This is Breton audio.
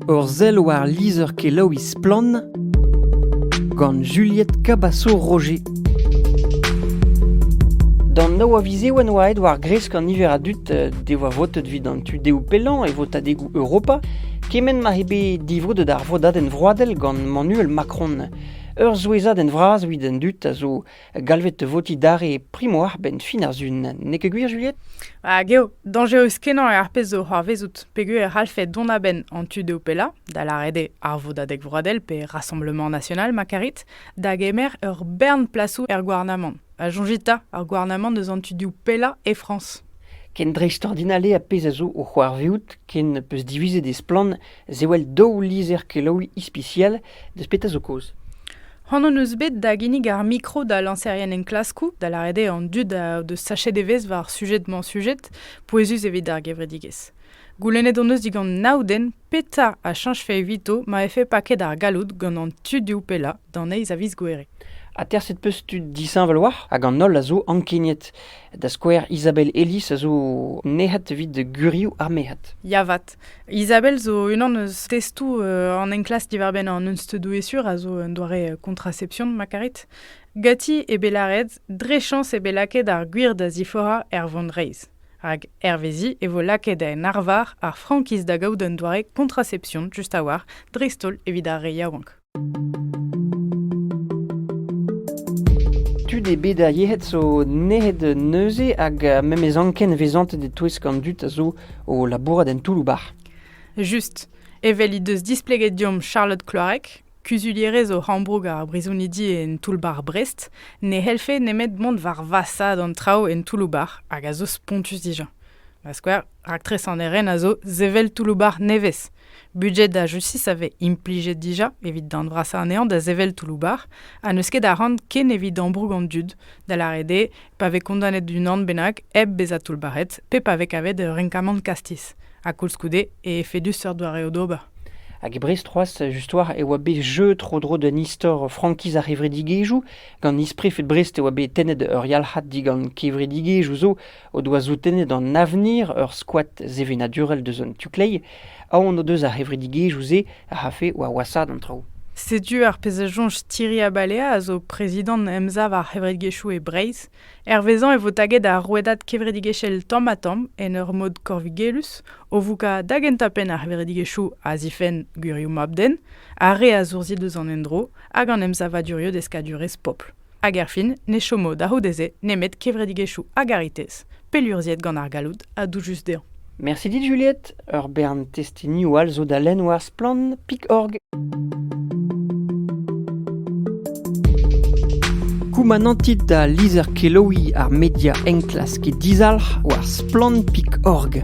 Ur sell war lizher-kelaouiñ Splann! gant Juliette Cabasso-Roger. D'an nav a viz eo en oa aet war-gresk an niver a dud eh, devoa votet evit an tu dehoù pellañ e votadegoù Europa, kement ma eo bet divrodet ar vodadenn vroadel gant Emmanuel Macron. Ur souezhadenn vras evit an dud a zo galvet votiñ dare primo arbenn fin ar Sun, n'eo ket gwir Juliette? Hag eo dañjerus-kenañ eo ar pezh zo c'hoarvezout peogwir e c'hallfe dont a-benn an tu dezho pellañ, da lâret eo ar Vodadeg Vroadel pe Rassemblement National ma karit, da gemer ur bern plasoù er gouarnamant. Ha soñjit 'ta, ar gouarnamant eus an tu div pellañ e Frañs. Ken dreistordinal eo ar pezh a zo o c'hoarvezout ken 'peus divizet e splann Zewel daou lizher-kelaouiñ ispisial deus petra zo kaoz. C'hoant hon eus bet da ginnig ar mikro da lañserien enklaskoù, da lâret eo an dud a deus sachet evezh war sujed-mañ-sujed pouezus evit ar gevredigezh. Goulennet hon eus digant nav den petra a chañjfe evito ma vefe paket ar galloud gant an tudioù pellañ d'an eizh a viz Gouere. Aterset 'peus tud disheñvel war hag an holl a zo ankeniet Da skouer, Isabelle Ellis a zo nec'het evit gurioù ar merc'hed. Ya vat. Isabelle zo unan eus testoù euh, an enklask diwar-benn an unsteudoù-esur a zo un doare euh, contraception ma karit. Gati eo bet lâret dre chañs eo bet lakaet ar gwir da ziforañ er vont reizh. Rak hervezi e vo lakaet en arvar ar frankiz da gaout un doare contraception just a-walc'h dreist-holl evit ar re yaouank. Tud eo bet ar yec'hed zo nec'het neuze hag memes anken vezantet e-touesk an dud a zo o labourat en toull-bac'h. Just. Evel he deus displeget deomp Charlotte Kloarek, kuzulierez o Rambroug ar brizonidi en toull-bac'h Brest, ne c'hellfe nemet mont war vasaat an traoù en toull-bac'h hag a zo spontus dija. Ma skouer, raktres an eren a zo sevel toull-bac'h nevez. Budget a justice a vez implijet dija evit darn vrasañ anezhañ da sevel toullou-bac'h ha n'eus ket a ran ken evit ambroug an dud, da lâret eo pa vez kondanet d'unan bennak hep bezañ toullbac'het pe pa vez kavet ur renkamant kastiz. Ha koulskoude e efedus seurt doareoù d'ober. Hag e Brest c'hoazh, just war, e oa bet jeu tro-dro d'un istor frankiz ar c'hevredigezhioù. Gant isprefed Brest e oa bet tennet ur yalc'had digant kevredigezhioù zo o doa soutennet an avenir ur skoad sevenadurel deus an tu-kleiz, aon o deus ar c'hevredigezhioù-se a c'hafe war wasaat an traoù. Setu ar pezh a soñj Thierry Abalea, a zo prezidant Emsav ar c'hevredigezhioù e Breizh. Hervezañ e vo taget ar rouedad kevredigezhel tamm-ha-tamm en ur mod korvigelus, o voukañ da gentañ-penn ar c'hevredigezhioù a zifenn gwirioù mab-den, ar re a zourzhi deus an endro hag an emsavaduriou deskadurezh pobl. Hag erfin, ne chomo da c'houde-se nemet kevredigezhioù a garitez, pellurzhiet gant ar galloud ha doujus dezhañ. Mersi dit Juliette, ur bern testenioù all zo da lenn war Splann Pic'horg. Koumanantit da lizher kelaouiñ ar media enklask dizalc'h war Splann Pic'horg.